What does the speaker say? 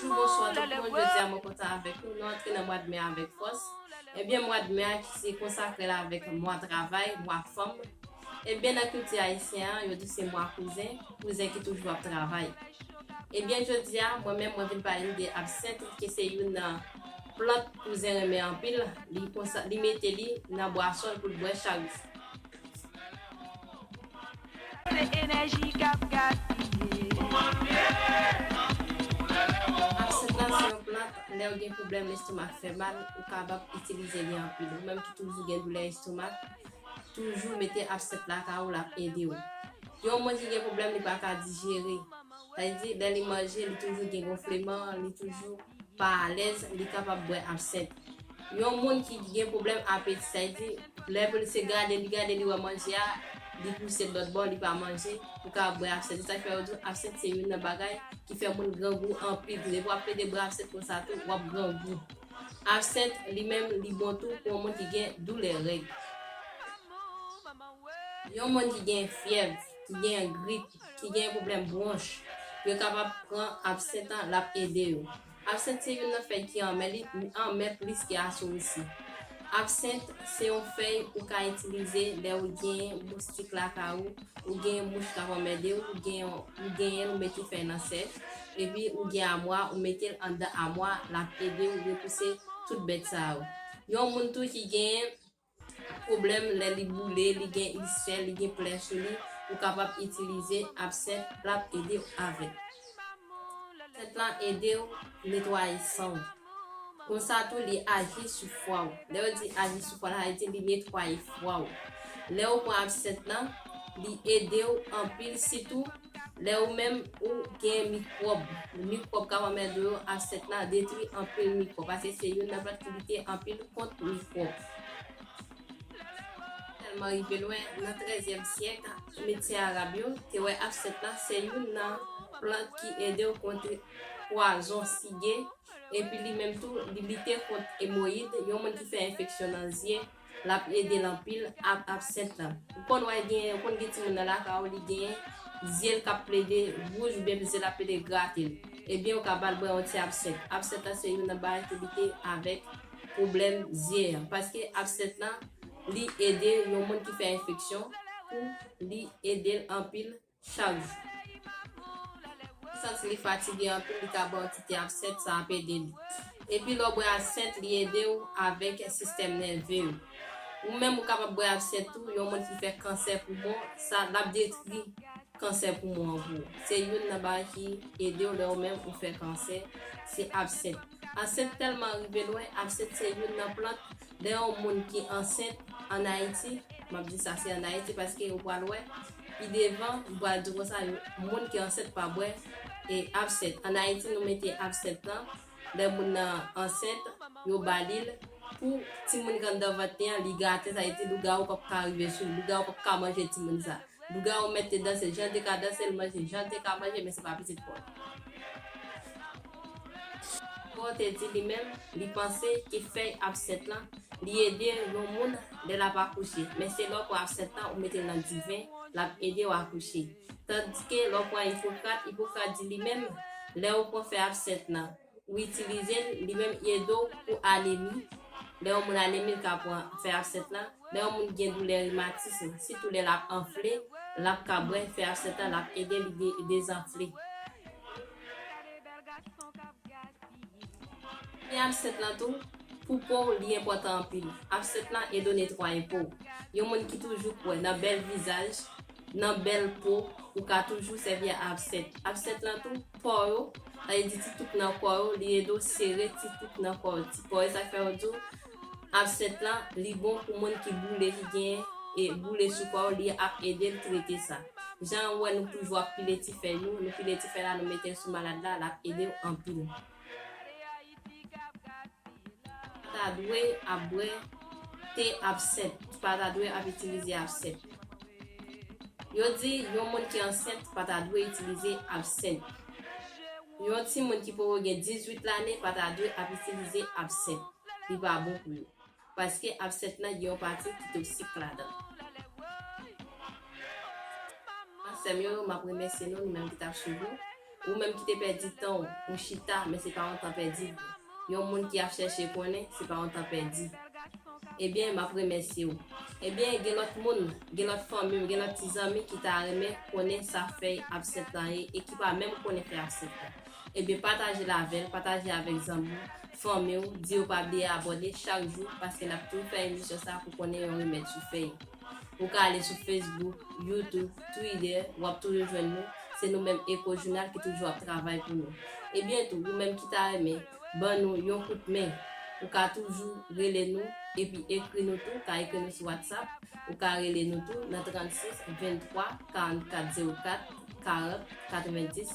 Toujou bonswa tout moun, jodi a mwen kontan avèk nou, nou antre nan mwad me a avèk fòs, ebyen mwad me a ki se konsakre la avèk mwa travay, mwa fanm, ebyen nan kilti ayisyen an yo di se mwa kouzen, kouzen ki toujou ap travay. Ebyen jodi a mwen menm mwen vin pale nou de absent ki se youn nan. Plant kouzen renmen anpil, li konsa li mete li nan bwason l pou l bwè chak jou. Absent la se yon plant lè w gen pwoblèm lestomak fè mal ou kabap itilize li anpil. Ou menm ki toujou gen doulè estomak, toujou mete absent lakay ou l ap ede w. Yon moun ki gen pwoblèm li pa ka dijere. Sa vle di, lè li manje, li toujou gen gonfleman, li toujou pa alèz, li kapab bwè absent. Yon moun ki gen pwoblèm apeti, sa vle di, lè pou li se gade, li gade, li wè manje a, li pouse l lòtbò, li pa manje, li kapab bwè absent. Se sa ki fè yo di w absent se youn nan bagay ki fè moun grangou anpil tou. Depi w ap plede bwè absent konsa tou, w ap grangou. Absent li menm li bon tou pou yon moun ki gen doulè règ. Yon moun ki gen fyèv, ki gen grip. ki gen pwoblèm bwonch, yo kapab pran absent an lap ede yo. Absent se youn nan fèy ki anmè li anmè plis ke asorisi. Absent se yon fèy ou ka itilize lè ou genyen moustik lakay ou, ou genyen mouch kap anmèdew, ou genyen ou genyenl ou mete fèy nan sèch, epi ou gen amwa ou metel anndan amwa lap edew repouse tout bèt sa yo. Yon moun tou ki genyen. Pwoblèm, Lè li boule, li gen ilsè, li gen plè sou li, ou kapab itilize absent lap ede w avèl. Absent la ede w netwaye san w. Konsa tou li aji sou fwa w. Lè yo di aji sou fwa sa vle di li netwaye fwa w. Lè ou pran absent lan li ede w anpil sitou. Lè ou menm ou gen mikwòb, mikwòb kap anmède ou yo, absent la detwi anpil mikwòb paske se youn nan plant ki lite anpil kont mikwòb. Tèlman rive lwen nan 13 zyèm syèk medsen arab yo te wè absent la se youn nan plant ki ede ou kontre pwazon sige epi li menm tou li lite kont emoyid, yon moun ki fè enfeksyon nan zye Lap edel anpil ap absent lan. Ou konn wè gen ou konn gen timoun nan lakay ou li gen zyel kap plede wouj oubyen zyel ap plede gratel ebyen ou ka bal bwè yon ti absent absent lan se youn nan bagay ki lite avèk pwoblèm zye an paske absent lan li ede yon moun ki fè enfeksyon pou li edel anpil Charles santi li fatige anpil li ka baw kite absent sa ap ede li. Epi lè w bwè absent li ede w avèk sistèm nève w. Ou menm ou kapab bwè absent tou yon moun ki fè kansè poumon sa lap detri kansè poumon an pou ou. Se youn nan bagay ki ede w lè ou menm ou fè kansè se absent. Absent tèlman rive lwen absent se youn nan plant Lè yon moun ki ansent an Ayiti, m ap di sa se an Ayiti paske ou pral wè pi devan m pral di konsa yo moun ki ansent pa bwè e absent. An Ayiti nou mete absent lan lè moun nan ansent yo ba li l pou timoun ki anndan vant li an li gate sa vle di lougawou p ap ka rive sou li, lougawou p ap ka manje timoun sa. Lougawou mèt te danse janl te ka danse l manje janl te ka manje men se pa pitit paw. Paw te di li menm li panse ke fèy absent lan li ede yon moun lè lap akouche men se lè w pran absent lan ou mete l nan diven lap ede w akouche tandske lè w pran ipokrat ipokrat di li menm lè ou pran fèy absent lan Ou itilize l, li menm li ede w pou anemi, lè yon moun anemi l ka pran fè absent lan, lè yon moun gen doulè rimatism sitou lè lap anfle lap ka bwè fè absent lan lap ede li dezanfle. Fè absent lan tou pou po w li enpòtan anpil, absent lan ede w netwaye po w, yon moun ki toujou kwè nan bèl vizaj Nan bèl po, ou ka toujou sèvi a absent. Absent lan tou, po yo, sa vle di ti tout nan kò yo, li ede w sere ti tout nan kò yo, ti po yo. Sa k fè yo di w absent lan, li bon pou moun ki boule, ki gen e boule sou kò yo, li ap ede l trete sa. Jan ou wè nou toujou ap pile ti fèy nou, nou pile ti fèy la nou mete l sou malad la, l ap ede w anpil. ta dwe ap bwè te absent t pa ta dwe ap itilize absent yo di yon moun ki ansent pa ta dwe itilize absent yon timoun ki poko gen 18 lane pa ta dwe ap itilize absent li pa bon pou yo. Paske absent nan gen yon pati ki toksik ladan. Sèm yo map remèsye nou nou menm ki tap swiv nou ou menm ki te pèdi tanw ou chita men se pa yon tan pèdi yon moun ki ap chèche konnen se pa yon tan pèdi ebyen map remèsyew ebyen gen lòt moun gen lòt fanmim gen lòt ti zanmi ki ta renmen konnen sa fèy absent lan ye e ki pa menm konnen fèy absent lan. Ebyen patajel avèl, pataje avèk zanmiw, fanmiw, di yo pa bliye abòne chak jou paske nap toujou fè emisyon sa pou konnen yon remèd sou fèy. Ou ka ale sou Facebook, YouTube, Twitter wap toujou jwenn nou, se nou menm Ecojounal ki toujou ap travay pou nou. Ebyen tou ou menm ki ta renmen ban nou yon kout men ou ka toujou rele nou epi ekri nou tou, ka ekri nou sou WhatsApp, ou ka rele nou tou nan 36 23 44 04 40 90.